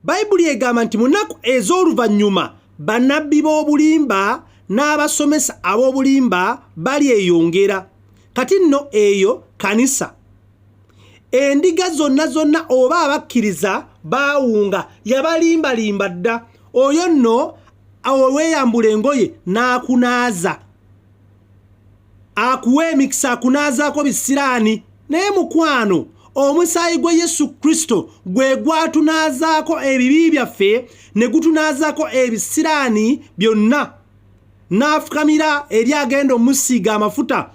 bayibuli egamba nti mu nnaku ez'oluvannyuma bannabbi b'obulimba n'abasomesa ab'obulimba balyeyongera kati nno eyo kanisa endiga zonna zonna oba abakkiriza baawunga yabalimbalimba dda oyo nno olweyambula engoye n'akunaaza akuwa emikisa akunaazaako bisiraani naye mukwano omusaayi gwa yesu kristo gwe gwatunaazaako ebibi byaffe ne gutunaazaako ebisiraani byonna n'afukamira eri agenda omusiiga amafuta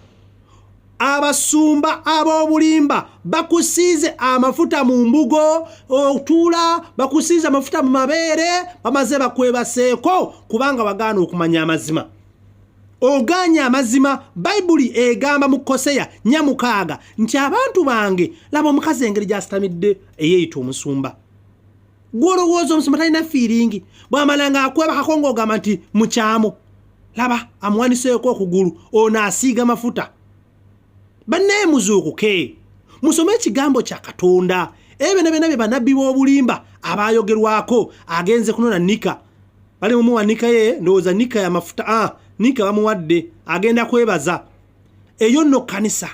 abasumba ab'obulimba bakusiize amafuta mu mbugo otuula bakusiize amafuta mu mabeere bamaze bakwebaseeko kubanga wagaana okumanya amazima ogaanye amazima bayibuli egamba mu koseya nyamukaaga nti abantu bange laba omukazi engeri gyasitamidde eyeeyita omusumba gwolowooza omusumba talina fiiringi bwamala nga akwebakako ngaogamba nti mukyamu laba amuwaniseeko okugulu ono asiiga mafuta bannaye muzuukuke musome ekigambo kya katonda ebyo nabyona bye banabbi b'obulimba abaayogerwako agenze kunona nika bali mumuwa nika ye ndowooza nika ya mafuta a ah, nika bamuwadde agenda kwebaza eyo nno kkanisa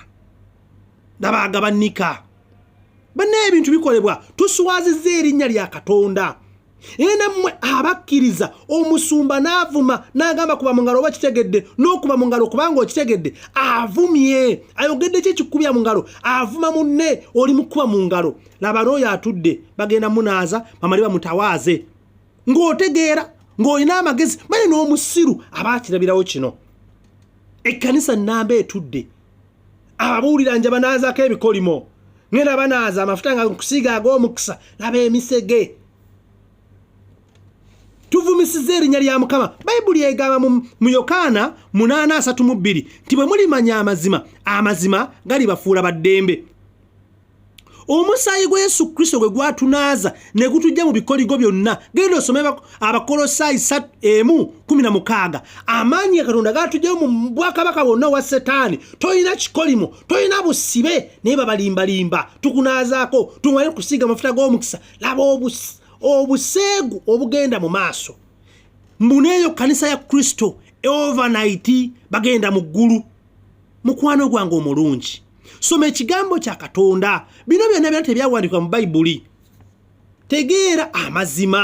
nabaagaba nika bannaye ebintu bikolebwa tuswaziza erinnya lya katonda naye nammwe abakkiriza omusumba n'avuma n'agamba kuba mu ngalo oba kitegedde n'okuba mu ngalo kubanga okitegedde avumye ayogedde ki ekikubya mu ngalo avuma munne oli mu kuba mu ngalo laba n'oyo atudde bagenda munaaza bamali bamutawaaze ng'otegeera ng'olina amagezi manye n'omusiru aba akirabirawo kino ekkanisa nnamba etudde ababuulira nja banaazako ebikolimo ngenda banaaza amafuta nga nkusiiga ag'omukisa laba emisege tuvumisiza erinnya lya mukama bayibuli egamba mu yokaana 8:32 nti bwe mulimanya amazima amazima galibafuula baddembe omusaayi gwa yesu kristo gwe gwatunaaza ne gutujja mu bikoligo byonna genda osome abakolosaayi emu kumi na mukaaga amaanyi ya katonda gatujjayo mu bwakabaka bwonna owa setaani tolina kikolimo tolina busibe naye babalimbalimba tukunaazaako tumale kusiiga amafuta g'omukisa laba obuseegu obugenda mu maaso mbuneeyo kanisa ya kristo overnight bagenda mu ggulu mukwano gwange omulungi soma ekigambo kya katonda bino byonna byona tebyawandikwa mu bayibuli tegeera amazima